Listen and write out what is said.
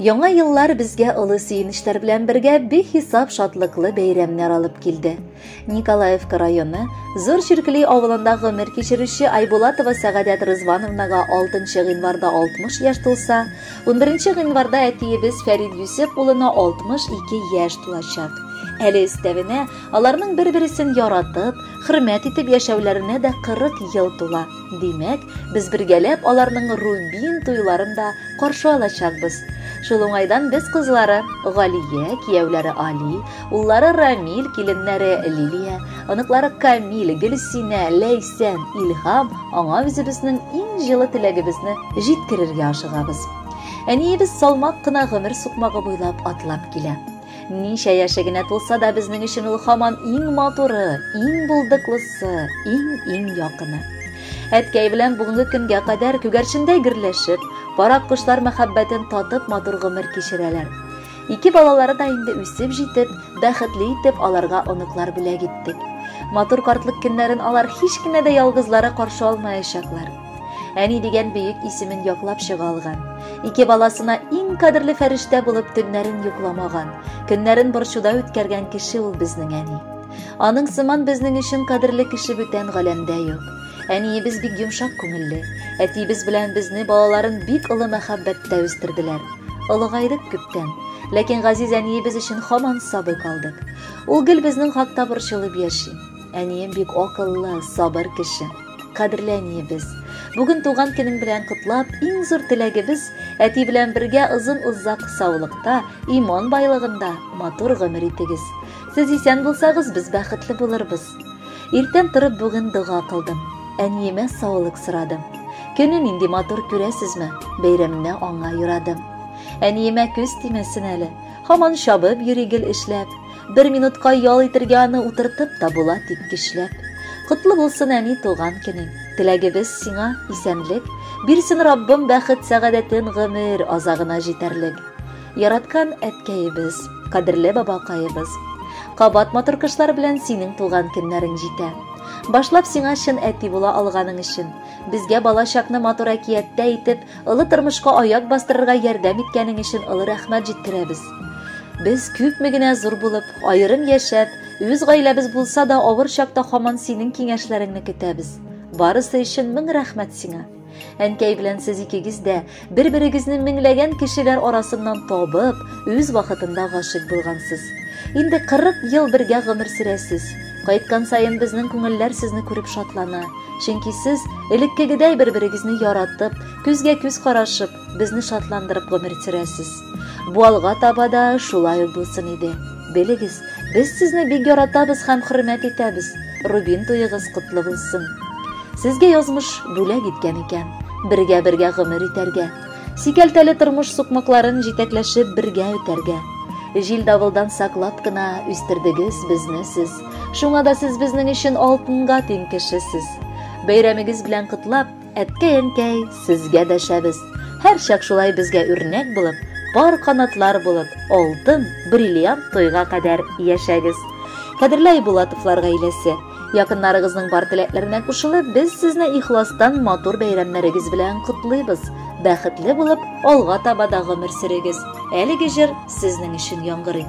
Яңа еллар безгә олы сөенечләр белән бергә бихисап шатлыклы бәйрәмнәр алып килде. Николаевка районы Зур Чиркли авылында гомер кичерүче Айбулатова Сәгадәт Рызвановнага 6 гыйнварда 60 яшь тулса, 11 гыйнварда әтиебез Фәрид Юсеп улына 62 яшь тулачак. Әле өстәвенә, аларның бер-берсен яратып, хөрмәт итеп яшәүләренә дә 40 ел тула. Димәк, без бергәләп аларның Рубин туйларын да каршы алачакбыз. Шул уңайдан без кызлары Галия, кияүләре Али, уллары Рамил, киленнәре Лилия, оныклары Камил, Гөлсинә, Ләйсән, Илһам аңа үзебезнең иң җылы теләгебезне җиткерергә ашыгабыз. Әниебез салмак кына гомер сукмагы буйлап атлап килә. Ничә яше генә тулса да безнең өчен ул хаман иң матуры, иң булдыклысы, иң-иң якыны. Әткәй белән бүгенге көнгә кадәр күгәрчендәй гөрләшеп, парак кошлар мәхәббәтен татып матур гомер кичерәләр. Ике балалары да инде үсеп җитеп, бәхетле итеп аларга оныклар бүләк иттек. Матур картлык көннәрен алар һич кенә дә ялгызлары каршы алмаячаклар. Әни дигән бөек исемен яклап чыга алган. Ике баласына иң кадерле фәрештә булып төннәрен йокламаган, көннәрен борчуда үткәргән кеше ул безнең әни. Аның сыман безнең өчен кадерле кеше бүтән галәмдә юк. Әниебез бик йомшак күңелле. Әтиебез белән безне балаларын бик олы мәхәббәттә үстерделәр. Олыгайдык күптән. Ләкин газиз әниебез өчен хаман сабый калдык. Ул гел безнең хакта борчылып яши. Әнием бик акыллы, сабыр кеше. Кадерле әниебез, бүген туган көнең белән котлап, иң зур теләгебез әти белән бергә озын-озак саулыкта, иман байлыгында матур гомер итегез. Сез исән булсагыз, без бәхетле булырбыз. Иртән торып бүген дога кылдым. Әниемә саулык сорадым. Көне нинди матур күрәсезме? Бәйрәмне аңа юрадым. Әниемә күз тимәсен әле. Һаман чабып йөри гел эшләп. Бер минутка ял итергә аны утыртып та була тик көчләп. Котлы булсын әни туган көнең. Теләгебез сиңа исәнлек, бирсен Раббым бәхет сәгадәтен гомер азагына җитәрлек. Яраткан әткәебез, кадерле бабакаебыз. Кабат матур кышлар белән синең туган көннәрең җитә. Башлап сиңа чын әти була алганың өчен, безгә балачакны матур әкияттә итеп, олы тормышка аяк бастырырга ярдәм иткәнең өчен олы рәхмәт җиткерәбез. Без күпме генә зур булып, аерым яшәп, үз гаиләбез булса да, авыр чакта хаман синең киңәшләреңне көтәбез. Барысы өчен мең рәхмәт сиңа. Әнкәй белән сез икегез дә бер-берегезне меңләгән кешеләр арасыннан табып, үз вакытында гашык булгансыз. Инде 40 ел бергә гомер сөрәсез. Кайткан саен безнең күңелләр сезне күреп шатлана. Чөнки сез элеккегедәй бер-берегезне яратып, күзгә-күз карашып, безне шатландырып гомер сөрәсез. Бу алга таба да шулай булсын иде. Белегез, без сезне бик яратабыз һәм хөрмәт итәбез. Рубин туегыз котлы булсын. Сезгә язмыш бүләк иткән икән. Бергә-бергә гомер итәргә. Сикәлтәле тормыш сукмакларын җитәкләшеп бергә үтәргә. Җил давылдан саклап кына үстердегез безне сез. Шуңа да сез безнең өчен алтынга тиң кешесез. Бәйрәмегез белән котлап, Әткәй-әнкәй, сезгә дәшәбез. Һәрчак шулай безгә үрнәк булып, пар канатлар булып, алтын, бриллиант тойга кадәр яшәгез. Кадерле Айбулатовлар гаиләсе, якыннарыгызның бар теләкләренә кушылып, без сезне ихластан матур бәйрәмнәрегез белән котлыйбыз. Бәхетле булып, алга таба да гомер сөрегез. Әлеге җыр сезнең өчен яңгырый.